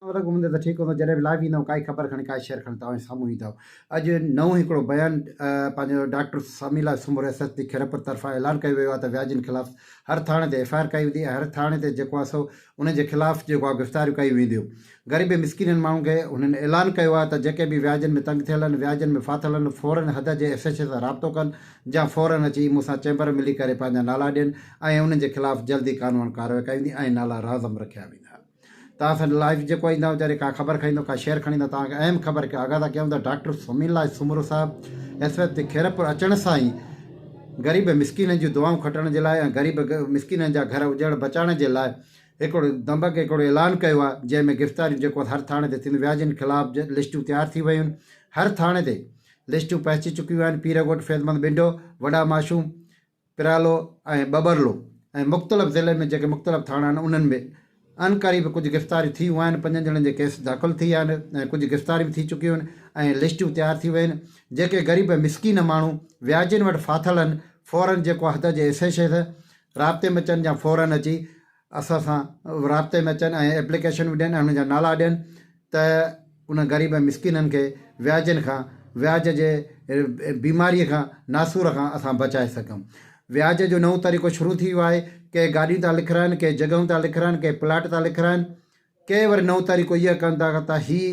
ڪيترا ورق گهمندي ته ٺيڪ هوندو جڏهن به لائيو ايندم ڪائي خبر کڻي ڪائي شيئر کڻي توهان جي سامهون ايندو اڄ نئون ئي هڪڙو بيان پنهنجو ڊاڪٽر سامي لاء Soomro S S P Khairpur طرفان اعلان ڪيو ويو آهي ته وياجين خلاف هر ٿاڻي تي ايف آء آر ڪئي ويندي ۽ هر ٿاڻي تي جيڪو آهي سو انهن جي خلاف جيڪو آهي گرفتاريون ڪيون وينديون غريب ۽ مسڪينن ماڻهن کي هنن اعلان ڪيو آهي ته جيڪي به وياجن ۾ تنگ ٿيل آهن وياجن ۾ ڦاٿل آهن فورن حد جي ايس ايڇ اي سان رابطو ڪن جا فورن اچي مون سان چيمبر ۾ ملي ڪري پنهنجا نالا ڏين ۽ انهن جي خلاف جلدي قانوان ڪارروائي ڪئي ويندي ۽ نالا رازم رکيا ويندا. توهان سان لائيو جيڪو ايندا ويچاري ڪا خبر کڻيندو ڪا شعر کڻيندو توهان کي اهم خبر ڪي آگاهه ٿا ڪيون ته ڊاڪٽر سمين الله سومرو صاحب ايس وي تي خيرپور اچڻ سان ئي غريب مسڪينن جون دعائون کٽڻ جي لاء ۽ غريب مسڪينن جا گهر اجڙ بچائڻ جي لاء هڪڙو دمبڪ هڪڙو اعلان ڪيو آهي جنهن ۾ گرفتاريون جيڪو هر ٿاڻي تي ٿينديون وياجين خلاف لسٽون تيار ٿي ويون هر ٿاڻي تي لسٽون پهچي چڪيون آهن پيرڳوٺ فيضمند ٻنڊو وڏا ماشوم پرالو ۽ ٻٻرلو ۽ مختلف ضلعن ۾ جيڪي مختلف ٿاڻا آهن انهن ۾ ان قريب ڪجهه گرفتاريون ٿيون آهن پنجن ڄڻن جي ڪيس داخل ٿي آهن ۽ ڪجهه گرفتاريون به ٿي چڪيون آهن ۽ لسٽون تيار ٿي ويون آهن جيڪي غريب ۽ مسڪين ماڻهو وياجين وٽ ڦاٿل آهن فورن جيڪو حد جي ايس ايڇ اي سان رابطي ۾ اچن يا فورن اچي اسان سان رابطي ۾ اچن ۽ ايپليڪيشنون ڏين ۽ انهن جا نالا ڏين ته انهن غريب ۽ مسڪينن کي وياجن کان، وياج جي بيماريء کان، ناسور کان اسان بچائي سگهون. وياج جو نئون طريقو شروع ٿي ويو آهي، ڪي گاڏيون ٿا لکرائن، ڪي جڳهيون ٿا لکرائن، ڪي پلاٽ ٿا لکرائن، ڪي وري نئون طريقو اهو ڪن ٿا ته هي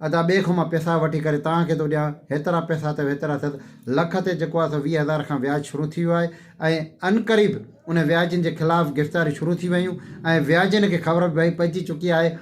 ادا ٻئي کان مان پيسا وٺي ڪري توهان کي ٿو ڏيان، هيترا پيسا اٿئي هيترا اٿئي، لک تي جيڪو آهي ويهه هزار کان وياج شروع ٿي ويو آهي ۽ عنقريب انهن وياجن جي خلاف گرفتاريون شروع ٿي ويون ۽ وياجن کي خبر به پئجي چڪي آهي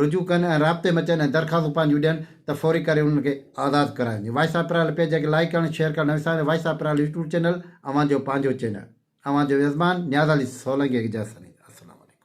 رجوع ڪن ۽ رابطي ۾ اچن ۽ درخواستون پنهنجون ڏين ته فوري ڪري انهن کي آزاد ڪرايو وڃي وائس آف پرال پيج کي لائيڪ ڪرڻ شيئر ڪرڻ نه وساريو voice of Piral YouTube channel اوهان جو پنهنجو چينل اوهان جو ميزبان نياز علي سولنگي اجازت ڏيندو آهيان السلام عليڪم.